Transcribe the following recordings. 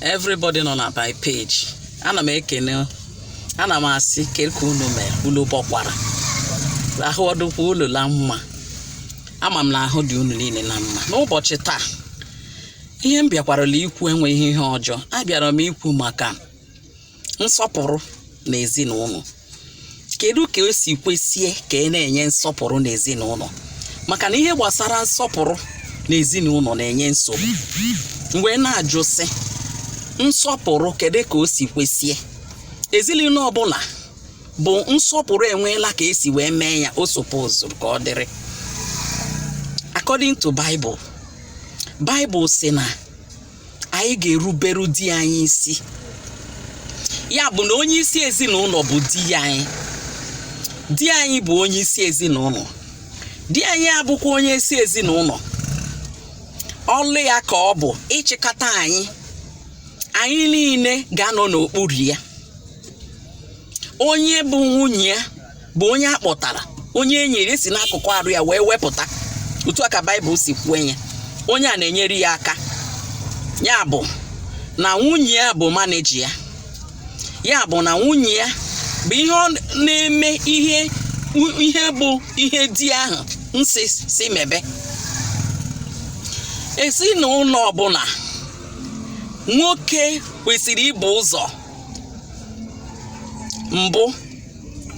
everybody nọ na my page ana m ekene ana m asị kee ka unu mere unu bọkwara ahụ ọ dụkwa unu la mma ama m na ahụ dị unu niile na mma n'ụbọchị taa ihe m bịakwarala ikwu enweghị ihe ọjọọ abịara m ikwu maka nsọpụrụ na ezinụlọ kedu ka o si kwesie ka ị na-enye nsọpụrụ na ezinụlọ maka na ihe gbasara nsọpụrụ na ezinụlọ na-enye nsogbu m wee na-ajụ sị nsọpụrụ kedu ka o si kwesie ezinụlọ ọbụla bụ nsọpụrụ enweela ka e si wee mee ya o suppose ka ọ dịrị according to Bible Bible sị na anyị ga-eruberu di anyị isi ya bụ na onye isi ezinụlọ bụ di anyị di anyị bụ onye isi ezinụlọ di anyị abụkwa onye isi ezinụlọ ọlụ ya ka ọ bụ ịchịkọta anyị anyị niile ga-anọ n'okpuru ya onye bụ nwunye ya bụ onye a kpọtara onye e nyere e si n'akụkụ arụ ya wee wepụta otu a ka baịbụl si kwuo ya onye a na-enyere ya aka ya bụ na nwunye ya bụ manager ya ya bụ na nwunye ya bụ ihe ọ na-eme ihe bụ ihe di ahụ sị sị mebe ezinụlọ ọbụla nwoke kwesịrị ibu ụzọ mbụ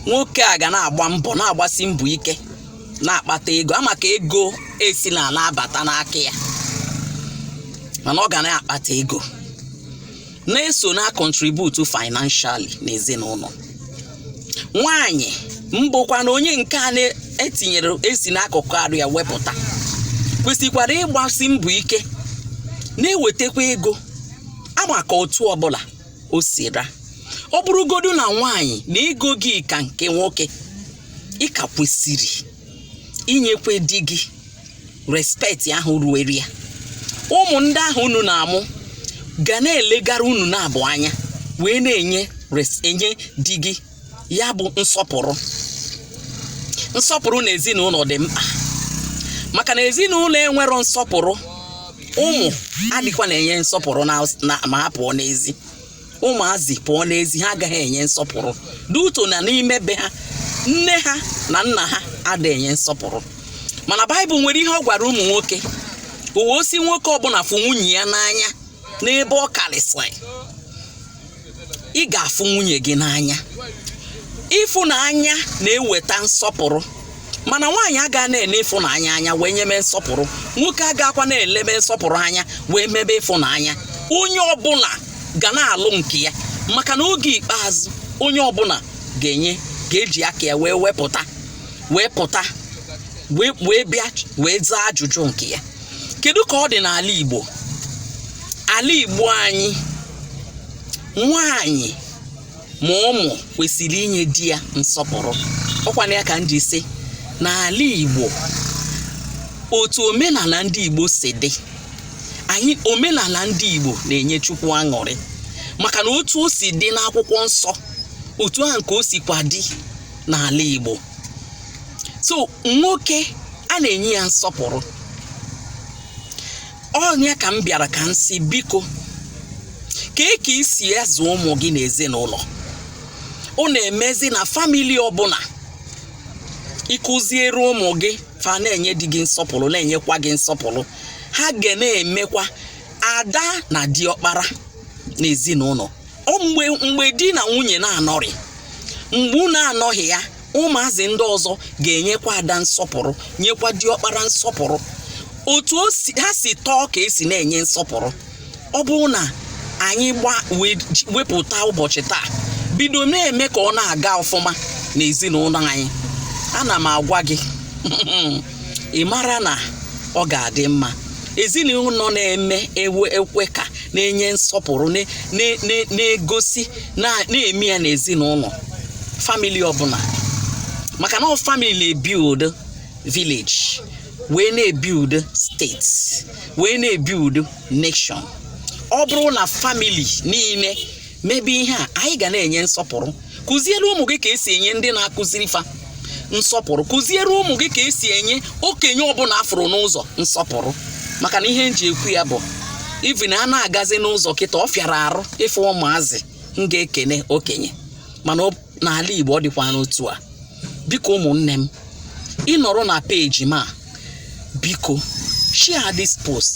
nwoke a ga na-agba mbọ na-agbasi mbọ ike na-akpata ego ama ka ego esi na na-abata n'aka ya mana ọ ga na-akpata ego na-eso na-acontribute financially n'ezinụlọ nwanyị mbụkwa na onye nke a na-etinyere e si n'akụkụ arụ ya wepụta kwesịkwara ịgbasi mbọ ike na-ewetakwa ego ama ka otu ọbụla o si ra ọ bụrụgodu na nwaanyị na ego gị ka nke nwoke ị ka kwesịrị inyekwe di gị respect ahụ ruere ya ụmụ ndị ahụ unu na-amụ ga na-elegara unu n'abụọ anya wee na-enye di gị ya bụ nsọpụrụ nsọpụrụ na ezinụlọ dị mkpa maka na ezinụlọ enwero nsọpụrụ ụmụ adịkwa na-enye nsọpụrụ ma ha pụọ n'ezi ụmụazị pụọ n'ezi ha agaghị enye nsọpụrụ due to na n'ime be ha nne ha na nna ha ada enye nsọpụrụ mana baịbụl nwere ihe ọ gwara ụmụ nwoke o wee sị nwoke ọbụla fụ nwunye ya n'anya n'ebe ọ karịsịrị ị ga-afụ nwunye gị n'anya ịfụnanya na-eweta nsọpụrụ mana nwaanyị aga na-ele ịfụnanya anya wee nyebe nsọpụrụ nwoke agakwa na-elebe nsọpụrụ anya wee mebe ịfụnanya onye ọbụla ga na-alụ nke ya maka na oge ikpeazụ onye ọbụla ga-enye ga-eji aka ya wee wepụta wee pụta wee bịa wee zaa ajụjụ nke ya kedu ka ọ dị n'ala Igbo ala Igbo anyị nwanyị ma ụmụ kwesịrị inye di ya nsọpụrụ ọkwana ya ka m ji sị n'ala Igbo otu omenala ndị Igbo si dị anyị omenala ndị Igbo na-enye Chukwu aṅụrị maka na otu o si dị n'akwụkwọ nsọ otu ahụ ka o sikwa dị n'ala Igbo so nwoke a na-enye ya nsọpụrụ ọ nya ka m bịara ka m sị biko kee ka i si azụ ụmụ gị n'ezinụlọ ọ na-emezi na family ọbụla ị kụziere ụmụ gị fa na-enye di gị nsọpụrụ na-enyekwa gị nsọpụrụ ha ga na-emekwa ada na diọkpara n'ezinụlọ mgbe mgbe di na nwunye na-anọrị mgbe unu anọghị ya ụmụazị ndị ọzọ ga-enyekwa ada nsọpụrụ nyekwa diọkpara nsọpụrụ otu ha si tọọ ka e si na-enye nsọpụrụ ọ bụrụ na anyị gba wepụta ụbọchị taa bido na-eme ka ọ na-aga ọfụma n'ezinụlọ anyị ana m agwa gị ị mara na ọ ga-adị mma ezinụlọ na-eme ewe ekwe ka na-enye nsọpụrụ na- na- na- na-egosi na- na-eme ya n'ezinụlọ family ọbụla maka na ọ family na-ebuild village wee na-ebuild state wee na-ebuild nation ọ bụrụ na family niile mebe ihe a anyị ga na-enye nsọpụrụ kụziere ụmụ gị ka e si enye ndị na-akụziri fa nsọpụrụ kụziere ụmụ gị ka e si enye okenye ọbụla a fụrụ n'ụzọ nsọpụrụ maka na ihe m ji ekwu ya bụ even a na-agazi n'ụzọ kịta ọ fịara arụ ịfụ ụmụazị ga-ekene okenye mana n'ala Igbo ọ dịkwarọ otu a biko ụmụnne m ị nọrọ na page m a biko share this post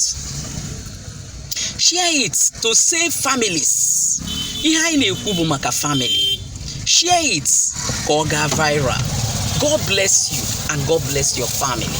share it to save families ihe anyị na-ekwu bụ maka family share it ka ọ gaa viral God bless you and God bless your family